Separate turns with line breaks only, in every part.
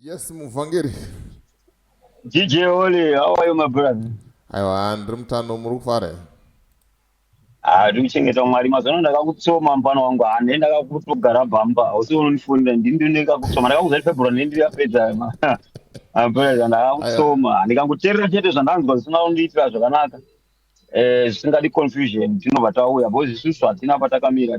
Yes, muvhangeri.
DJ Oli, how are you my brother? Aiwa, ndiri
mutano, muri kufara here? Ah, ndiri
kuchengeta Mwari. Mazuva ano ndakakutsoma mupana wangu, ah, ndini ndakakutogara bhamba. Hausi unondifonera, ndini ndini ndakakutsoma. Ndakakuzari February, ndini ndiri yapedza. My brother, ndakakutsoma. Ndikangoterera chete zvandanzwa zvisina kundiitira zvakanaka. Eh, zvisingadi confusion, tinobva tauya. Bozi isusu hatina patakamira.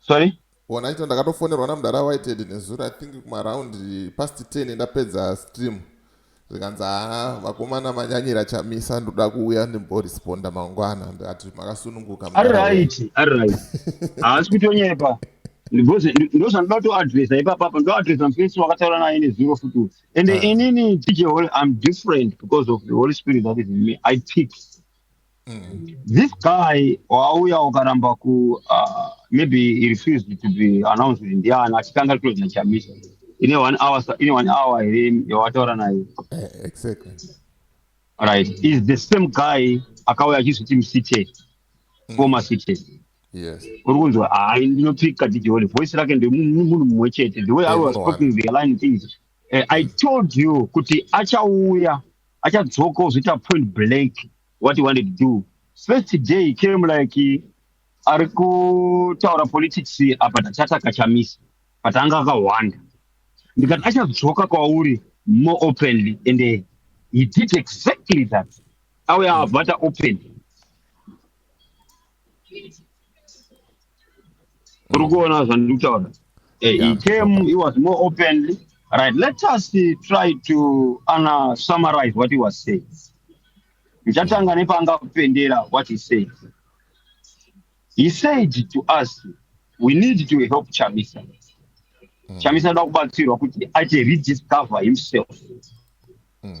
sorry ona ito
ndakatofonerwa namudara whitehead nezuro i think kumaraund past 10 ndapedza stream zvikanzi haa vakomana manyanyira chamisa ndoda kuuya ndimboresponda mangwana ndikati makasununguka ari right ari
right haasi kutonyepa because ndozvandinoda kutoadresa ipapapa ndoadresa mufesi wakataura naye nezuro futi uyu and Ah. inini tj holy i'm different because of the holy spirit that is in me i pick This guy wauya ukaramba ku uh, maybe he refused to be announced kuti ndiani achitanga close na Chamisa. Ine one hour sa- ine one hour here yawataura naye. Eh, exactly Right. Is the same guy akauya achizviti msite former site. yes Uri
kunzwa hayi
ndinopika DJ Holy voice rake ndemunhu mumwe chete. The way I was Eko, talking the line things Eh, I told you kuti achauya achadzoka ozoita point blank what he wanted to do. First day he came like eh, ari kutaura politics apa tachata kachamisa but anga akahwanda ndikati achadzoka kwauri more openly and eh, he did exactly that auya avata openly Kurikuona zvandikutaura. Eh, he came, he was more openly. Right, let us uh, try to uh, summarize what he was saying. Ndichatanga nepanga kupendera what he said. He said to us, we need to help Chamisa. Mm. Chamisa da kubatsirwa kuti ache rediscover himself. Mm.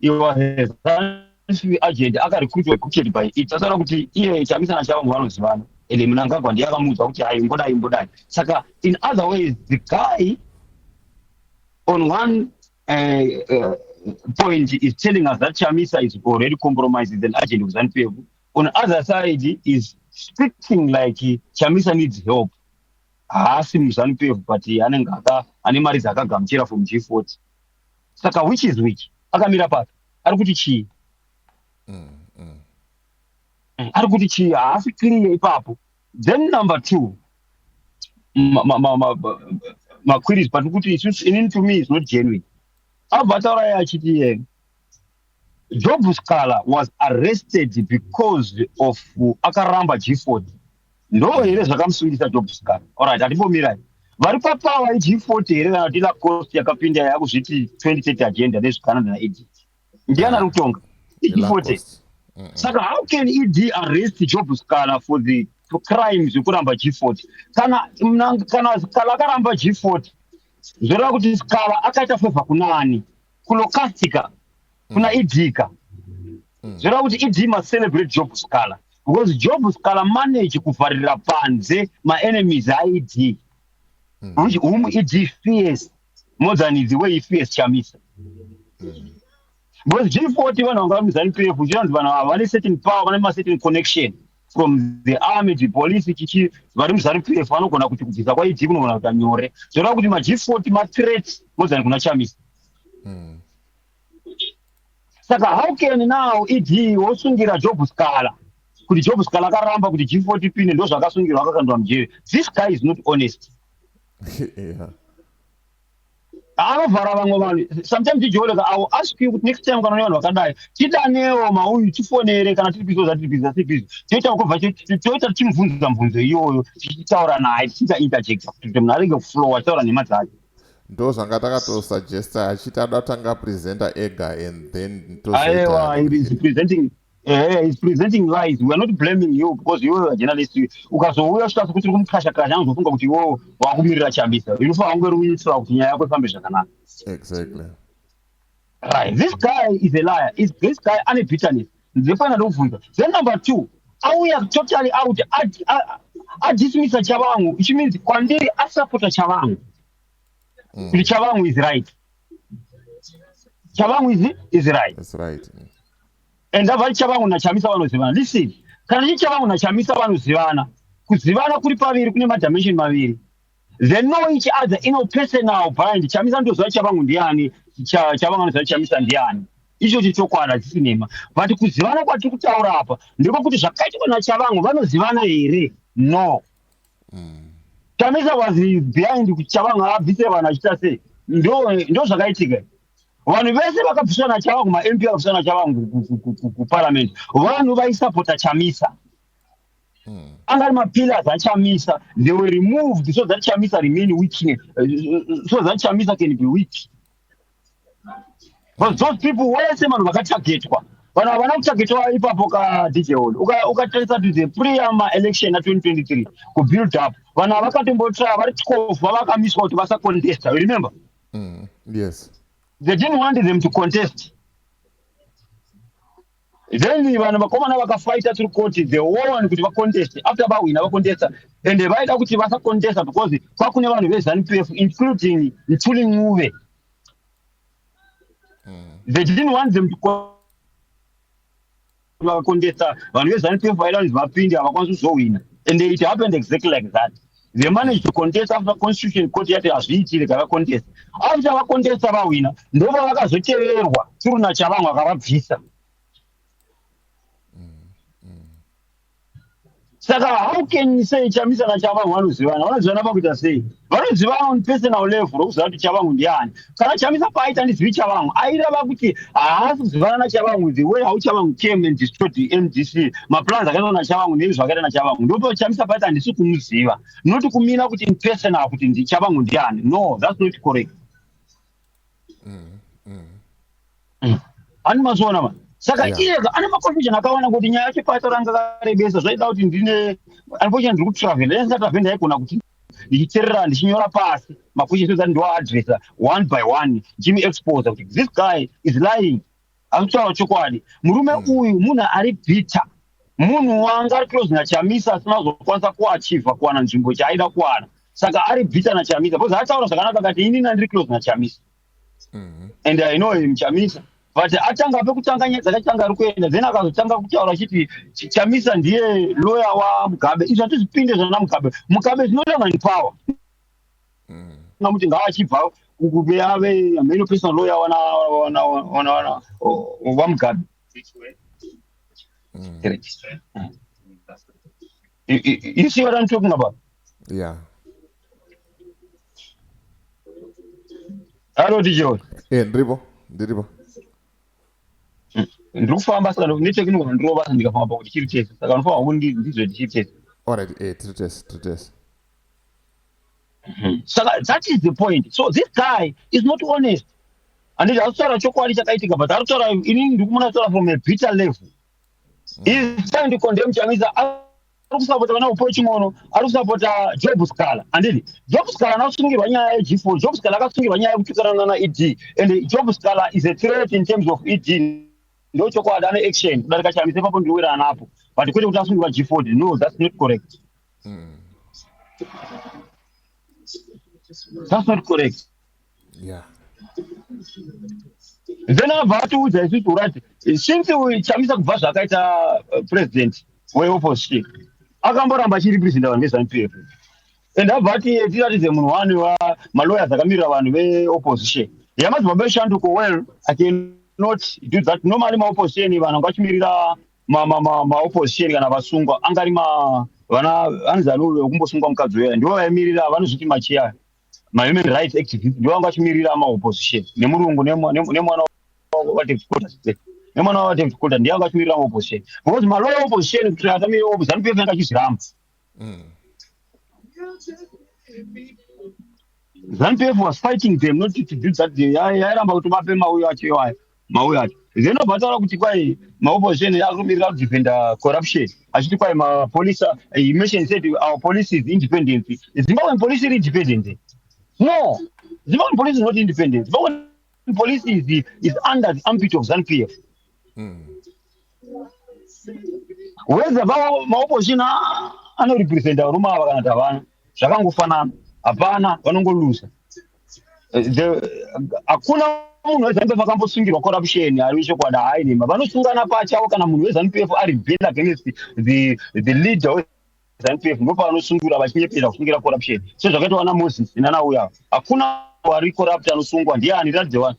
Iwa hezansi agent akarekrutwa kucheti by it tasaona kuti iye chamisa na shavangu vanozivana ende munangagwa ndiye akamuudza kuti hayi imbodai imbodai saka in other ways the guy on one uh, uh, point is telling us that chamisa is already compromised with an agent of zanupf on other side is speaking like chamisa needs help haasi muzanupf but anenge ane mari dzaakagamuchira from g40 saka which is which akamira papi ari kuti chii mm, mm. Eh, ari kuti chii haasi clear ipapo then number two maquiris but kuti inini to me is not genuine abva atauraya achiti yena Job Scala was arrested because of akaramba G40. Ndoo here zvakamusungisa Job Scala? Alright, hatimbomira. Vari papawa G40 here kana kuti Lacoste yakapinda yakuzviti 2030 agenda nezvikana na ED. Ndiana ah, rutonga. G40. Saka how can ED arrest Job Scala for the crime zvekuramba G40? Kana kana Scala akaramba G40 zvoreva kuti Scala akaita favor kuna ani? kunokatika kuna mm. ed ka mm. zvireva kuti ed must celebrate job scala because job scala manage kuvharira panze maenemies aed mm. which whom ed fears more than the way he fears chamisa mm. because g40 vanhu vanga vamizani pf zviranzi vanhu ava vane certain power vane macertain connection from the army the police chichi vari muzanu pf vanogona kuti kubvisa kwa ed kunogona kuita nyore zvoreva kuti ma g40 ma threat more than kuna chamisa mm. saka how can now ed wosungira job scala kuti job scala akaramba kuti g40 pine ndozvakasungirwa akakandwa mujere this guy is not honest yeah.
anovhara
vamwe vanhu sometimes tijooleka i will ask you kuti next time kana une vanhu vakadai tidanewo mauyu tifonere kana tiri bizo zatiri bizo zatiri bizo toita kubva toita tichimubvunza mubvunzo iyoyo tichitaura naye tichiita interjecta kuti munhu arege kuflow achitaura nhema dzake ndo zvanga
takatosuggesta achiti ada kutanga presenta ega and then tozoita aiwa
presenting Eh, he's presenting lies. We are not blaming you because you are a journalist. Ukazouya uchitaura kuti uri kumukasha kasha anozofunga kuti iwewe wakumirira Chamisa. Unofanira kunge uri kuitira kuti nyaya yako ifambe zvakanaka. exactly Right. This guy is a liar. Is this guy ane bitterness? Ndipana ndobvunza. Then number two, auya totally out. Ad- a- Adismissa Chavangu, which means kwandiri asupporta Chavangu. Kuti Chavangu is right. Chavangu is, is right. that's right
and
avari chavangu nachamisa vanozivana listen kana chii chavangu nachamisa vanozivana kuzivana kuri paviri kune madimension maviri they know each other in a personal bind chamisa ndoziva chavangu ndiani chavangu anoziva chamisa ndiani ichocho chokwadi hachisi nhema but kuzivana kwatiri kutaura apa ndiko kuti zvakaitwa nachavangu vanozivana here no mm. chamisa was behind kuti chavangu abvise vanhu achita sei ndo zvakaitika vanhu vese vakabviswa nachavangu mamp akabviswa nachavangu kuparliament vanhu vaisapota chamisa hmm. anga ari mapillars achamisa they were removed so that chamisa remain weak so that chamisa can be weak but those people wese vanhu vakatargetwa vanhu havana kutargetwa ipapo ka dj hall ukatarisa uka to the preama election na 2023 kubuild up vanhu havakatombotra vari tikofu vavakamiswa kuti vasacontesta remember Mm, yes.
They didn't
want them to contest. Then vanhu vakomana vakafighta through court the whole one kuti vacontest after vahwina vacontesta and vaida kuti vasacontesta because kwakune vanhu veZanupf including Mthuli Ncube. Mm. They didn't want them to Vakakontesta vanhu veZanu PF vaida kuti vapinde havakwanisi kuzohwina and it happened exactly like that. They managed to contest after constitution court yati hazviitire gavakontesta. After vakontesta vahwina ndova vakazoteverwa Turuna Chavanhu akavabvisa. saka how can you say chamisa nachavangu vanozivana vanozivana pakuita sei vanozivana on personal level rokuziva kuti chavangu ndiani kana chamisa paaita ndizivi chavangu airava kuti haasi kuzivana nachavangu the way how chavangu came and destroyed the mdc maplans akaitwa nachavangu neizvi zvakaita nachavangu ndopa chamisa paita handisi kumuziva not kumina kuti in personal kuti chavangu ndiani no that's not correct ani mazviona ma saka Yeah. iyeka ane maconfusion akawanda kuti nyaya yacho pato ranga karebesa zvaida kuti ndine unfortunately ndiri kutravel dai ndisatraveli ndaigona kuti ndichiterera ndichinyora pasi maquestions ati ndiwaadressa one by one ndichimuexposa kuti this guy is lying Akutaura chokwadi. Murume mm. uyu munhu ari bitter. Munhu wanga ari close na Chamisa asina kuzokwanisa kuachiva kuwana nzvimbo chaaida kuwana. Saka ari bitter na Chamisa because ataura zvakanaka akati ini ndiri close na Chamisa. Mm. And I know him Chamisa. But atanga pekutanga nyaya dzakatanga ari kuenda then akazotanga kutaura achiti Chamisa ndiye lawyer wa Mugabe. Izvi hatizvipinde zvana Mugabe. Mugabe is not even in power. na kuti ngaachibva kukube ave ameno personal lawyer wana wana wana wana wamugadi mm. you see what i'm talking about
yeah
halo tijewe e eh, ndiripo
ndiripo mm.
ndiri kufamba saka nechekinoona ndirova ndikafamba pakuti chiri tese saka ndinofanira kuti ndizve tichiri tese allright e eh, tiri
tese tiri tese Hmm.
Saka that is the point. So this guy is not honest. And it has to chokwadi chakaitika, but that's what I mean, from a bitter level. Hmm. He's trying to condemn Chamisa. ari kusapota vana upo chimono ari kusapota job scala andidi job scala anasungirwa nyaya yegfo job scala akasungirwa nyaya yekutukanana naed and job scala is a threat in terms of ed ndochokwadi ane action kudarika chamise papo ndiwira anapo but kwete kuti asungirwa gfod no that's not correct Mm. That's not correct.
Yeah.
Then abva atiudza isusu urati since chamisa kubva zvakaita uh, president weopposition akamboramba achiri president vanhu veZanu PF and abva ati tiratidze munhu wani wa maloyers akamirira vanhu veopposition yamadzimambo eshanduko well I cannot do that normally maopposition vanhu vachimirira ma, ma, ma, ma opposition kana vasungwa angari ma vana hanzi anove wekumbosungwa mukadzi uya ndivo vaimirira vanozviti machiya mahuman rights activist ndivo vanga vachimirira maopposition nemurungu nemwana nemwana wavadevicolta ndiye vanga vachimirira maopposition because malow opposition kuti atamire opposition anopefenga achizviramba Mm. Zanu PF was fighting them not to do that. They- ya- Yairamba kuti vape mauyo acho iwayo mauyo acho. Then obva taura kuti kwai maopposition akumirira kudefenda corruption achiti kwai mapolice are- he mentioned said our police is independent. Zimbabwean police iri independent. here? No, Zimbabwean police is not independent. Zimbabwean police is, is under the armpit of ZANU PF. Mm. whether maopposition anorepresenta varume ava kana tavana zvakangofanana hapana vanongoluza hakuna munhu wezanup vakambosungirwa corruption ari chokwadi haai nema vanosungana pachavo kana munhu wezanup ari bel against the, the leader zanup ndo pavanosungura vachinyepera kusungira corruption sezvakaitwa vana moses nanauya hakuna wari corrupt anosungwa ndiani ratidze wani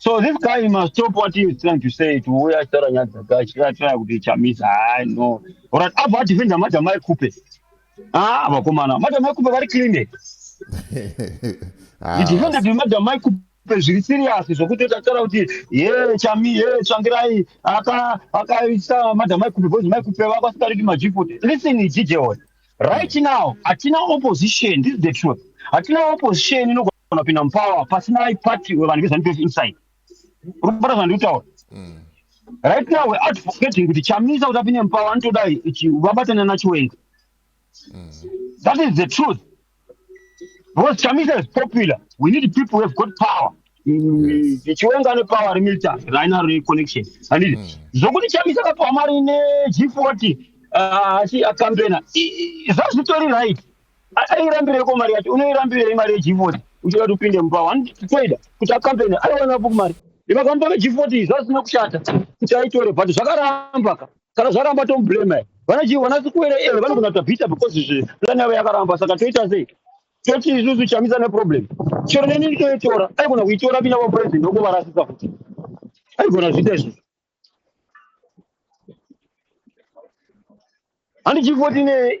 So this guy he must stop what he is trying to say to uya achitaura nyaya dzake achitara kuti chamisa hai no orat abva adefenda madam aikupe ah vakomana madam aikupe vari clean he ah, defended with madam aikupe zviri serious zvokuti tatara kuti ye chami ye tsvangirai aka akaisa madam aikupe because maikupe vako asikariki majipot listen dj one right now hatina opposition this is the truth hatina opposition inogona unopinda mupower pasina party wevanhu vezanu pf inside uri kubata zvandiri kutaura mm. right now we're advocating kuti chamisa kuti apinde mupower anotoda vabatana nachiwenga mm. that is the truth because chamisa is popular we need people who have got power chiwenga ane power remilita rainaro reconnection anditi mm. zvokuti chamisa akapiwa mari neg40 uh, asi akampena zvazvitori right airambireko mari yacho unoirambirei mari yegifoti uchida kuti upinde mubao handitoida kuti acampeni aiwanapo mari ivakamupa vegifoti iyi zvazina kushata kuti aitore but zvakaramba ka kana zvaramba tomublema vanachivo vanasikuwere eve vanogona kuta bita because zve plan yavo yakaramba saka toita sei toti isusu chamisa neproblem chero neni toitora aigona kuitora vina vapresident okuvarasisa futi aigona zviita izvozvo handichifoti ne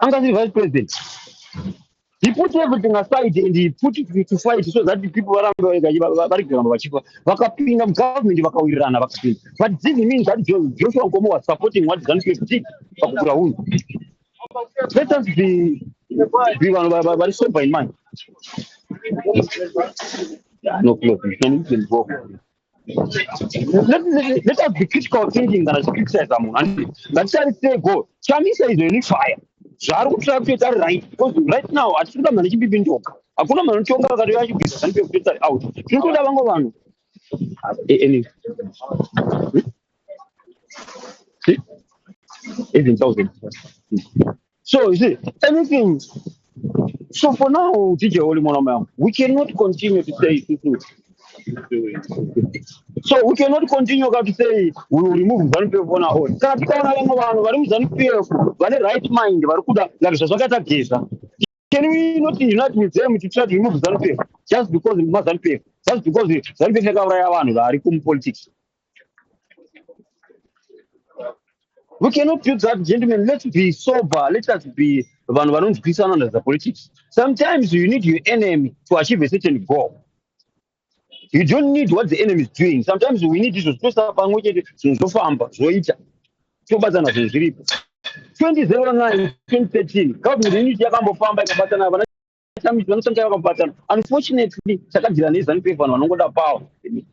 anga ndiri vice president he put everything aside and he put to fight so that people varambe vari kuramba vachifa vakapinda mugovernment vakawirirana vakapinda but this means that joshua nkomo was supporting what zanupf did pakukura hunhu let us be be vanhu vari sober in mind no close let, let, let us be critical thinking kana tichicriticiza munhu andi ngatitarisei go chamisa izvo ini fire zvaari kutira kutoita ari right because right now hatisi kuda mhani chipipi njoka hakuna mhani unotonga vakati vachibvisa zani pekutoita ari out tiri kutoda vango vanhu eh, even thousand So you see, anything. So for now, DJ Holy Monomer, we cannot continue to say this is doing. So we cannot continue to say we will remove ZANU PF on our own. Kana tikaona vamwe vanhu vari muZANU PF vane right mind vari kuda like zvazvakaita Geza. Can we not unite with them to try to remove ZANU PF just because mazanu PF? Just because ZANU PF yakauraya vanhu vari kumu politics. We cannot do that, gentlemen. Let's be sober. Let us be vanhu vanonzwisana nezva politics. Sometimes you need your enemy to achieve a certain goal. You don't need what the enemy is doing. Sometimes we need izvo zvitosa pamwe chete zvinhu zvofamba zvoita tobatsana zvinhu zviripo 2009 2013 government unit yakambofamba ikabatsana vana Sometimes vanotsanga vakabhatana. Unfortunately, chakadira nezanu pefu vanhu vanongoda power.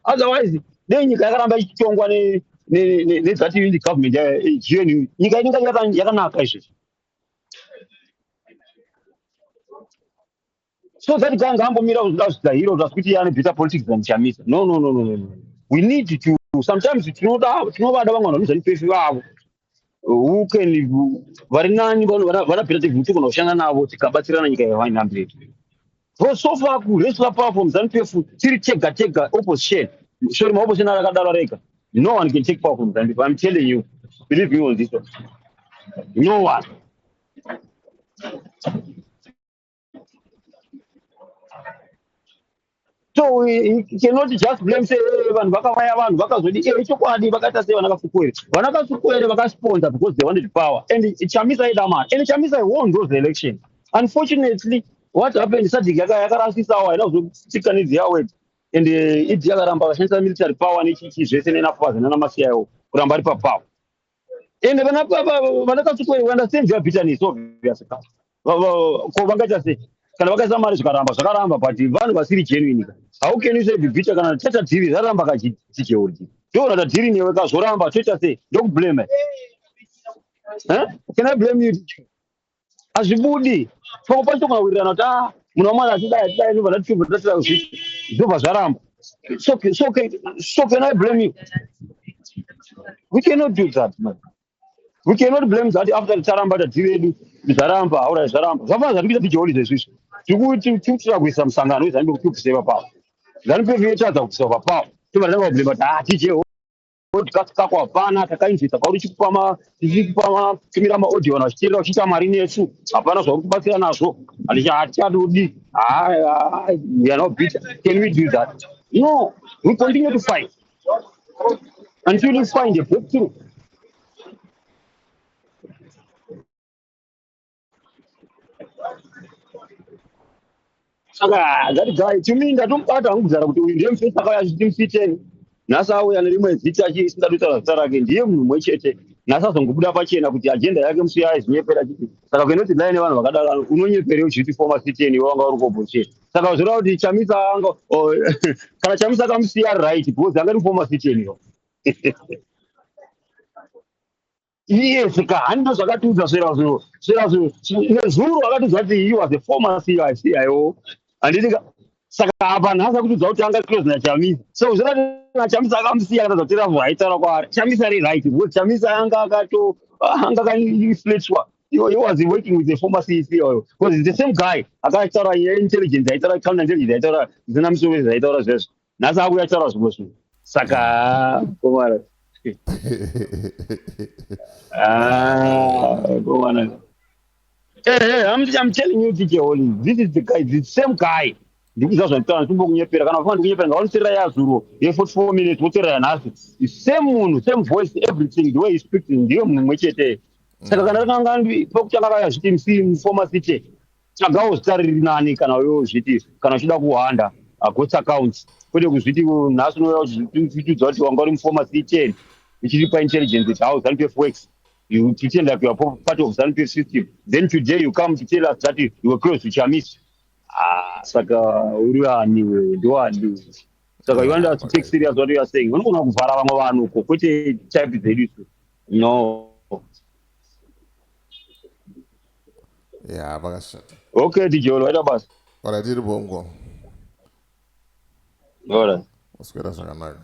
Otherwise, dei nyika yakaramba ichitongwa ne ne ne nezati indi government ya eh, GNU. Nyika inenge yaka- yakanaka izvezvi. So that guy ngaambomira kuda zvita hero zvasi kuti ane better politics than Chamisa. No no no no no. no. We need to sometimes tinoda tinovada vamwe vanhu vanozani pefu vavo. who can vari nani vanapirative kuti kana kushanda navo tikabatsirana nyika yavaina mberi so so far kuresla power from zanu pf tiri tega tega opposition sori maopposition ari akadaro rega no one can take power from zanu pf i'm telling you believe me on this one no one so we cannot just blame say eh, vanhu vakavaya vanhu vakazodi e eh, ichokwadi vakaita sei vana kasukuwere vana kasukuwere vakasponsa because they wanted power and chamisa aida mari and chamisa i won those election unfortunately what happened sadhiki yakarasisawo haina kuzotika nidzi yawed and eh, idi yakaramba vashandisa military power nechichi zvese nenafazi nanamasiyawo kuramba ari papower ende vana vana kasukwere we understand their bitterness obvious ka Va- va- ko vangaita sei kana vakaisa mari zvikaramba zvakaramba but vanhu vasiri genuine ka how can you say be bitter kana tata dhiri raramba ka chi- chijeurji ndiona ta dhiri newe ka zvoramba toita sei ndokublame eh can i blame you hazvibudi pamwe pacho kunawirirana kuti a munhu wamwari atidai atidai ndobva ndatibva tatira zvisi zvobva zvaramba so, so, so can i blame you we cannot do that man we cannot blame that after taramba tati vedu zvaramba haura zvaramba zvafana zvatikuita tijoli zvezvizvi tikuitira kuisa musangano wezanupf tikuseva pavo zanupf yotadza kukuseva pavo tobva tatanga kublema kuti ah tijeo podcast kako hapana takainzwisa kwauri chikupama tichikupama tumira maaudio vanhu vachiteerera uchiita mari nesu hapana zvauri kubatsira nazvo hatichadodi can we do that no we continue to fight until we find a breakthrough saka that guy to me ndatomubata hangu kuzara kuti uyu ndiye mufesi akauya achiti mufiteni nhasi auya nerimwe zita chisingada kutaura zita rake ndiye munhu mumwe chete nhasi azongobuda pachena kuti ajenda yake musi yaizvinyepera chiti saka kuenda kuti ndai nevanhu vakadaro unonyeperei uchiti foma fiteni iwe wanga uri kobhochee saka zvoreva kuti chamisa anga oh, kana chamisa akamusiya right because anga ri foma fiteni yo Yes, kahani ndo zvakatiudza zverazvo zverazvo nezuro akatiudza kuti he was a former CIO handiti saka apa nhasi akutiudza kuti anga close naChamisa so zvoratidza Chamisa akamusiya akatadza kuti ravhu aitaura kwaari Chamisa ari right because Chamisa anga akato anga akainflatwa he was working with the former CIO because the same guy akataura intelligence aitaura counter intelligence aitaura zina musoro zvaitaura zvezvo nhasi akuuya kutaura zvimwe zvinhu saka komana ah, komana Hey, eh, eh, hey, I'm, I'm telling you, DJ Holy, this is the guy, the same guy. ndikuziva zvanditaura ndikuba kunyepera kana kufana ndikunyepera ngavanoterera yazuro ye44 minutes voterera yanhasi same munhu same voice everything the way he speaks ndiyo munhu mumwe chete saka kana kanga pokutanga vayazviti msi mufoma city tsvagawo zita riri nani kana iwe uzviti kana uchida kuhanda agots uh, accounts kwete kuzviti uh, nhasi unouya uchitudza kuti wanga uri mufoma c ten uchiri paintelligence kuti how zanu pf works you pretend like you are part of zanu pf system then today you come to tell us that you were close to chamisi ah, saka uri ani wewe ndoani saka you want us to take serious what you are saying unogona kuvhara vamwe vanhu uko kwete type dzedu no
ya vakashata okay dijolo waita
basa ora tiri bongo
ora waswera zvakanaka